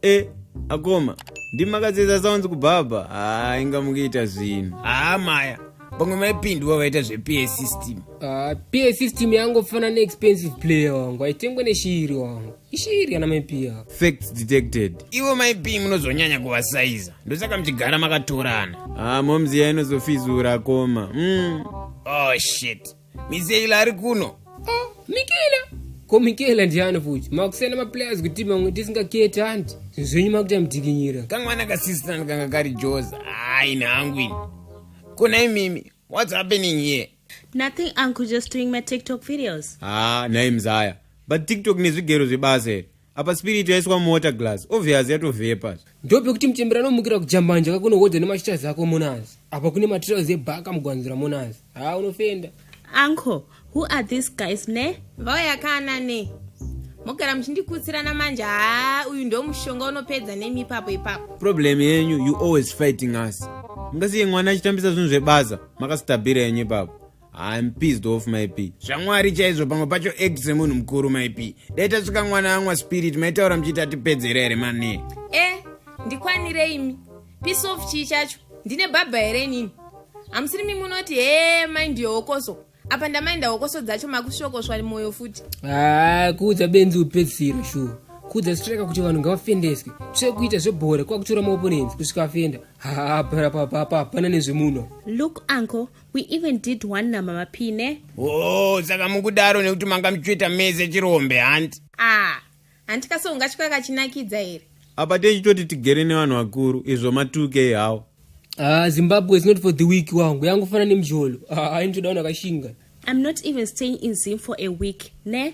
e akoma ndimakadzidza sounds kubhabha haa inga mukuita zvinhu haa maya pamwe maipindwa vaita zvepa system Ah, pa system yangofana neexpensive player wangu aitengwe neshiri wangu ishiri kana maipiya facts detected ivo maipi munozonyanya kuvasaiza ndosaka muchigara makatorana ah momzi iya inozofizura koma mm. oh shit miseila ari kuno oh, mikela ko mikela ndiani futi makusiyana maplayers kuti mamwe tisingaketi hanti zvinhu zvenyu makuita mudikinyira kamwana kasisitani kanga kari joza hayi nhangu ini kuna imimi what's happening here Nothing uncle just doing my TikTok videos. Ah, naye mzaya. But TikTok nezvigero zvebasa here. Apa spirit yaiswa muwater glass. Obvious yatovhepa. Ndope kuti mchembera anomukira kujambanja kako unohodza nemashiters ako monazi. Apa kune materials ebhaka mugwanzira monazi. Ah, unofenda. Uncle, who are these guys ne? Vauya kana ne. Mogara muchindikutsirana manje. Ah, uyu ndo mushonga unopedza nemi ipapo ipapo. Problem yenyu you always fighting us. Mungasiye mwana achitambisa zvinhu zvebasa. makasitabhira yenyu ipapo I'm pissed off myp zvamwari chaizvo pamwe pacho act semunhu mukuru myp dai tasvika mwana amwa spirit maitaura muchiita tipedzera here mane e eh, ndikwanire imi piece of chii chacho ndine bhabha here inini hamusiri mi munoti hee mai ndiyo hokoso apa ndamainda hokoso dzacho makusvokoswa mwoyo futi haa ah, kuudza benzi upedzisiro shuwa kuudza streka kuti vanhu ngavafendeswe tsvekuita zvebhora kwakutora maoponenzi kusvika afenda haa bra papa hapana nezvemuno look uncle we even did one namama pine oh saka mukudaro nekuti manga muchitoita mese chirombe hanti ah hanti kase ungatyi kakachinakidza here apa techitoti tigere nevanhu vakuru izvo matuke ihawo ah zimbabwe is not for the week wangu yangofana nemjolo ah, ainitoda vanhu vakashinga i'm not even staying in zim for a week ne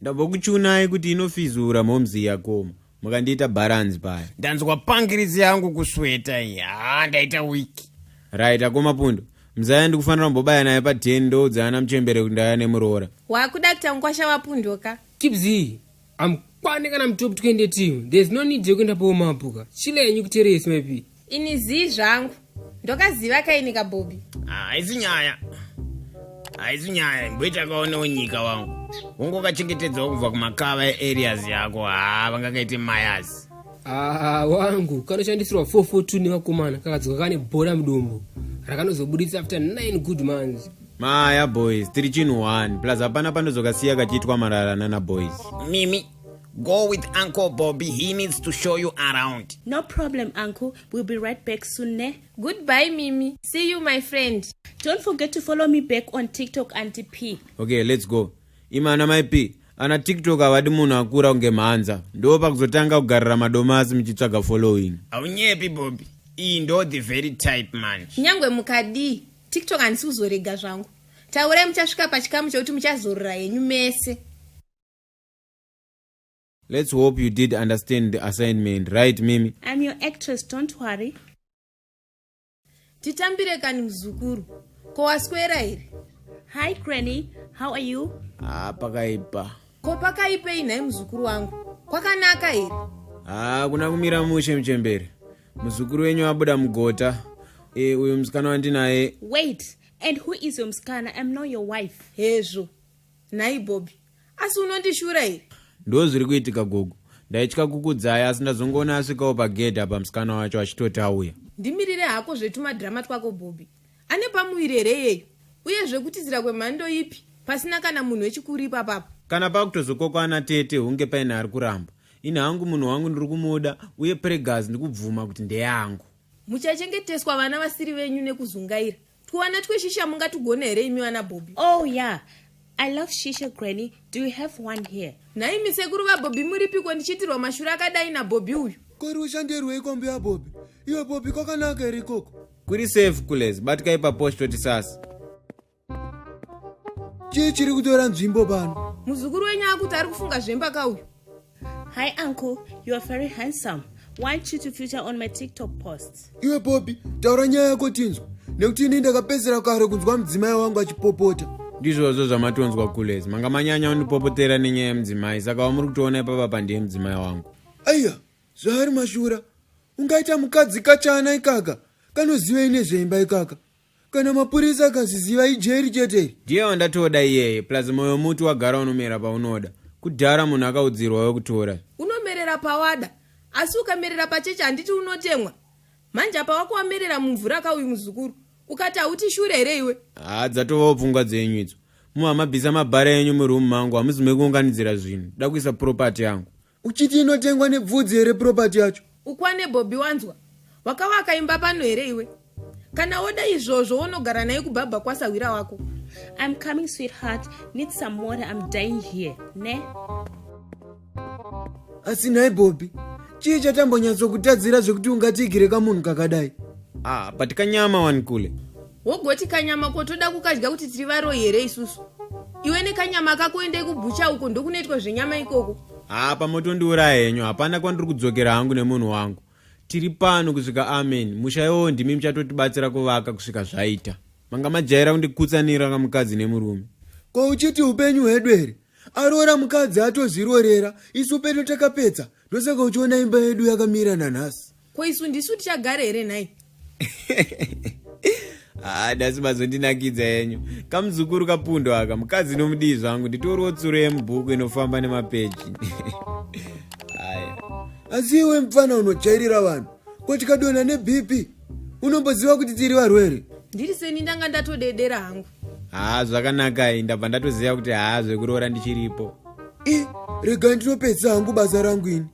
ndabva kuchiunai kuti inofizura momzi yakoma mukandiita bharanzi paya ndanzwa pangiritsi yangu kusweta iyi haa ndaita wiki right akoma pundo mzaya ndikufanira kumbobaya naye pa 10 ndoudza ana muchembere kuti ndaya nemuroora wakuda kuita mukwasha wapundoka kibzi amkwane kana mutopi twende timu there's no need yekuenda paomapuka chile yenyu kuteresi maipi ini zii zvangu ndokaziva kaini kabhobi ah, haisi nyaya haisi nyaya imboita kaonewo nyika wangu ungokachengetedzawo kubva kumakava eareas yako haa ah, vangakaite mayas aa ah, wangu kanoshandisirwa 442 nevakomana kakadzoka kane bhora mudumbu rakanozobuditsa after 9 good months maya boys tiri chinhu 1 plus hapana panozokasiya kachiitwa marara nana boys mimi Go with Uncle Bobby. He needs to show you around. No problem, Uncle. We'll be right back soon, ne? Goodbye, Mimi. See you, my friend. Don't forget to follow me back on TikTok, Auntie P. Okay, let's go. Imana, my P. ana tiktok havadi munhu akura kunge mhanza ndo pakuzotanga kugarira madomasi muchitsvaga following haunyepi bobi iyi ndo the very type man kunyange mukadii tiktok handisi kuzorega zvangu taurai muchasvika pachikamu chekuti muchazorora henyu mese Let's hope you did understand the assignment, right, Mimi? I'm your actress, don't worry. Titambire kani mzukuru. Ko waswera here? Hi, Granny. How are you? Ah, pakaipa. Ko pakaipei nhai mzukuru wangu? Kwakanaka here? Ah, kuna kumira mushe mchembere. Mzukuru wenyu abuda mugota. Eh, uyu msikana wandinaye. Wait, and who is your msikana? I'm not your wife. Hezvo. Nhai Bobby. asi unondishura here ndo zviri kuitika gogo ndaitya kukudzaya asi ndazongoona asvikawo pagedhi apa musikana wacho achitoti auya ndimirire hako zvetumadhirama twako bhobhi ane pamuviri here iyeyu uye zvekutizira kwemhando ipi pasina kana munhu wechikuru ipapapo kana pakutozokokwana tete hunge paine ari kuramba ini hangu munhu wangu ndiri kumuda uye pregas ndikubvuma kuti ndeyangu muchachengeteswa vana vasiri venyu nekuzungaira Twana tweshisha mungatugone here imi vana Bobby? Oh yeah. I love shisha granny. Do you have one here? Nhai misekuru vaBobby muripiko ndichiitirwa mashura akadai naBobby uyu? Ko iri ushandirwei kombi yaBobby? Iwe Bobby kwakanaka here ikoko? Kuri safe kulez, batikai paposhi toti sasa. Chii chiri kutora nzvimbo pano? Muzukuru wenyu akuti ari kufunga zvemba ka uyu? Hi uncle, you are very handsome. Why should you feature on my TikTok posts? Iwe Poppy, taura nyaya yako tinzwa. Nekuti ini ndakapedzera kare kunzwa mudzimai wangu achipopota. Ndizvozvo zvamatonzwa kulezi. Manga manyanya undipopotera nenyaya yemudzimai, saka wamuri kutoona ipapa pandiye mudzimai wangu. Aiya, zvaari mashura. Ungaita mukadzi kachana ikaka. Kanozivei nezveimba ikaka. kana mapurisa akaziziva ijeri chete iri ndiye wandatoda iyeye plus moyo muti wagara unomera paunoda kudhara munhu akaudzirwa wekutora unomerera pawada asi ukamerera pacheche handiti unotemwa manje apa wako wamerera mumvura ka uyu muzukuru ukati hauti shure here iwe haa dzatovawo pfungwa dzenyu idzo muhamabvisa mabhara enyu muroom mangu hamuzi mekuunganidzira zvinhu da kuisa property yangu uchiti inotengwa nebvudzi here property yacho ukwane bobby wanzwa wakavaka imba pano here iwe kana woda izvozvo wonogara naye kubhabha kwasahwira wako i'm coming sweetheart need some water i'm dying here ne asi nhai bobby chii chatambonyatsokutadzira zvekuti ungatiigire kamunhu kakadai ah but kanyama wani kule wogoti kanyama ko toda kukadya kuti tiri varoyi here isusu iwe nekanyama kako endei kubhucha uko ndokunoitwa zvenyama ikoko haa pamotondiuraya henyu hapana kwandiri kudzokera hangu nemunhu wangu tiri pano kusvika amen musha iwowo ndimi muchatotibatsira kuvaka kusvika zvaita manga majaira kundikutsanira kamukadzi nemurume ko uchiti upenyu hwedu here aroora mukadzi atozvirorera isu pedu takapedza ndosaka uchiona imba yedu yakamira nanhasi ko isu ndisu tichagare here nhai haa ah, dasi mazondinakidza yenyu kamuzukuru kapundo aka mukadzi nomudii zvangu nditoriwo tsuro yemubhuku inofamba nemapeji aya asi iwe mupfana unojairira vanhu ko tikadonha nebp unomboziva kuti tiri varwere ndiri seni ndanga ndatodedera hangu haa ah, zvakanakai ndabva ndatoziva kuti haa ah, zvekuroora ndichiripo i rega ndinopedzisa hangu basa rangu ini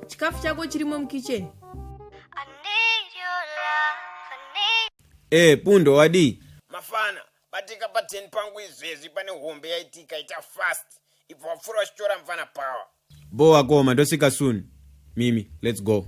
chikafu chako chirimo mukitchen e pundo wadii mafana batika pa 10 pangu izvezvi pane hombe yaitika ita fast ibva wapfuura wachitora mfana power bho wakoma ndosvika soon mimi let's go